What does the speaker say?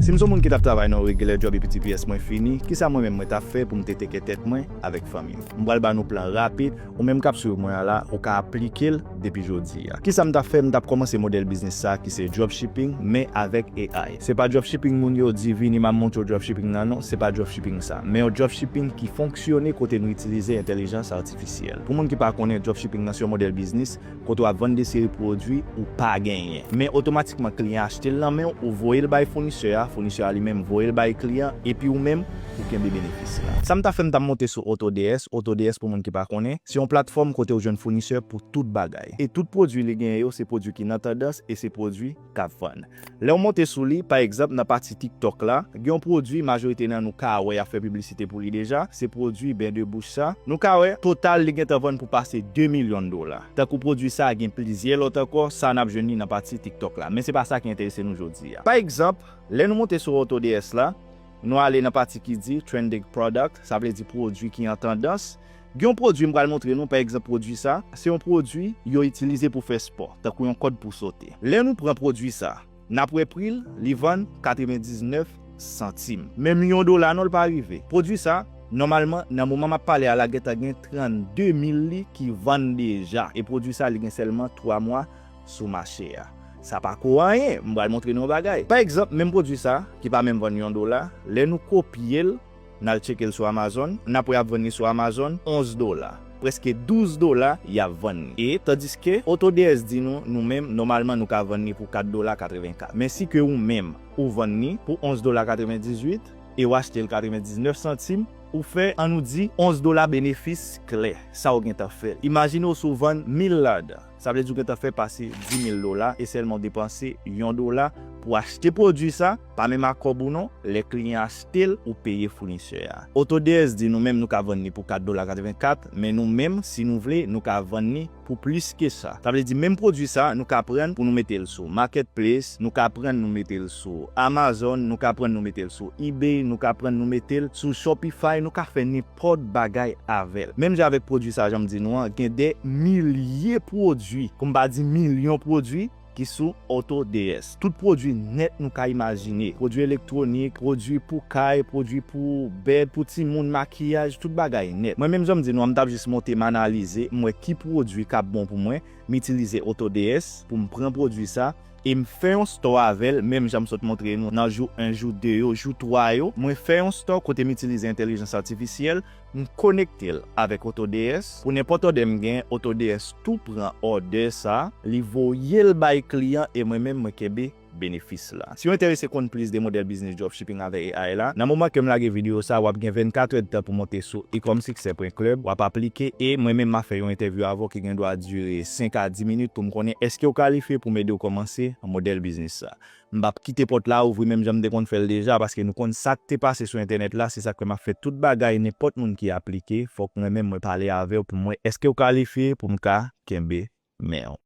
Si m son moun ki tap travay nan yon regular job epi tps mwen fini, kisa mwen menm mwen tap fè pou m te teke tèt mwen avèk fanmi m? M pral ba nou plan rapid, ou menm kap swiv mwen an la, ou ka aplike l depi jodi a. Kisa m tap fè, m tap kòmanse modèl biznis sa ki se dropshipping men avèk AI. Se pa dropshipping moun yo di vini m ap montre w dropshipping nan non, se pa dropshipping sa, men yon dropshipping ki fonksyone kote nou itilize entèlijans atifisyèl. Pou moun ki pa konnen, dropshipping nan se yon modèl biznis Kote w ap vann de seri pwodui ou pa genyen. Men otomatikman kliyan achte l nan men w, ou voye l bay founisè a, founisè a li menm voye l bay kliyan, epi ou menm, ou kenbe benefis la. Sa m ta fè m ta monte sou AutoDS, AutoDS pou moun ki pa konnen, se yon platfòm kote ou jwenn founisè pou tout bagay. E tout pwodui li genyen yo se pwodui ki nan tandans e se pwodui. k ap vann. Lè w monte sou li, pa egzanp nan pati TikTok la, gen yon pwodui majorite nan nou ka wè y ap fè piblisite pou li deja, se pwodui Bain de Bouche sa. Nou ka wè, total li gentan vann pou pase 2 milyon dola. Tankou pwodui sa a, gen plizyè lòt ankò, sa a n ap jwenn li nan pati TikTok la. Men se pa sa ki enterese nou jodi a. Pa egzanp, lè nou monte sou AutoDS la, nou ale nan pati ki di Trending Product, sa vle di pwodui ki an tandans, Gen yon pwodui m pral montre nou, pa egzanp pwodui sa, se yon pwodui yo itilize pou fè spò, tankou yon kòd pou sote. Lè nou pran pwodui sa, n ap wè pri l, li vann 99 santim. Menm yon dola non l pa rive. Pwodui sa, nòmalman, nan moman m ap pale a la gentan gen 32 mil li ki vann deja. E pwodui sa li gen sèlman 3 mwa sou mache a. Sa pa ko anyen, m pral montre nou yon bagay. Pa egzanp, menm pwodui sa, ki pa menm vann yon dola, lè nou kopye l, N al tcheke l sou Amazon, n ap wè y ap vann li sou Amazon 11 dola. Prèske 12 dola y ap vann li. E, tandiske, AutoDS di nou, nou menm, nòmalman nou ka vann li pou 4 dola 84. Men si ke ou menm, ou vann li pou 11 dola 98, e w achte l 99 santim, ou fè, an nou di, 11 dola benefis klè. Sa w gentan fè l. Imajine w si w vann 1000 ladan. Sa vle di ou gentan fè pase 10.000 dola e sèlman ou depanse yon dola pou achte pwodui sa, pa menm ak kòb ou non, lè kliyan achte l ou peye founisè a. Autodesk di nou menm nou ka vann li pou 4 dola 84 men nou menm si nou vle nou ka vann li pou plis ke sa. Sa vle di menm pwodui sa nou ka prann pou nou mete l sou Marketplace, nou ka prann nou mete l sou Amazon, nou ka prann nou mete l sou Ebay, nou ka prann nou mete l sou Shopify, nou ka fè nenpòt. nenpòt bagay avè l. Menm jan avèk pwodui sa jan m di nou an gen dè milye pwodui pou m pa di milyon pwodui ki sou AutoDS. Tout pwodui nèt nou ka imajine, pwodui elektwonik, pwodui pou kay, pwodui pou bèd, pou timoun, makiyaj, tout bagay nèt. Mwen menm jan m di nou an m t ap jis monte m analize m wè ki pwodui k ap bon pou mwen, m itilize AutoDS pou m pran pwodui sa E m fè yon store avè l, menm jan m sot montre nou nan jou 1, jou 2 yo, jou 3 yo. Mwen fè yon store kote m itilize entèlijans atifisyèl, m konekte l avèk AutoDS. Pou nenpòt òdè m gen, AutoDS tou pran òdè sa, li voye l bay kliyan e mwen menm mwen kenbe benefis la. Si w enterese konn plis de modèl biznis dropshipping, Shipping avè AI la. Nan moman kem lage video sa wap gen 24 heures de tan pou monte sou ecomsuccès pwen club wap aplike e mwen menm ma fè yon entèvyou avè w ki gen dwa dire 5 a 10 minit poum konnen eskew kalifye poum ede w komanse modèl biznis sa. M pap kite pòt la ouvri menm janm te konn fèl deja paske nou konn sak te pase sou entènèt la se sak fè map fè tout bagay nenpòt moun ki aplike fòk mwen menm mwen pale avèw poum wè eskew kalifye poum ka kenbe menw.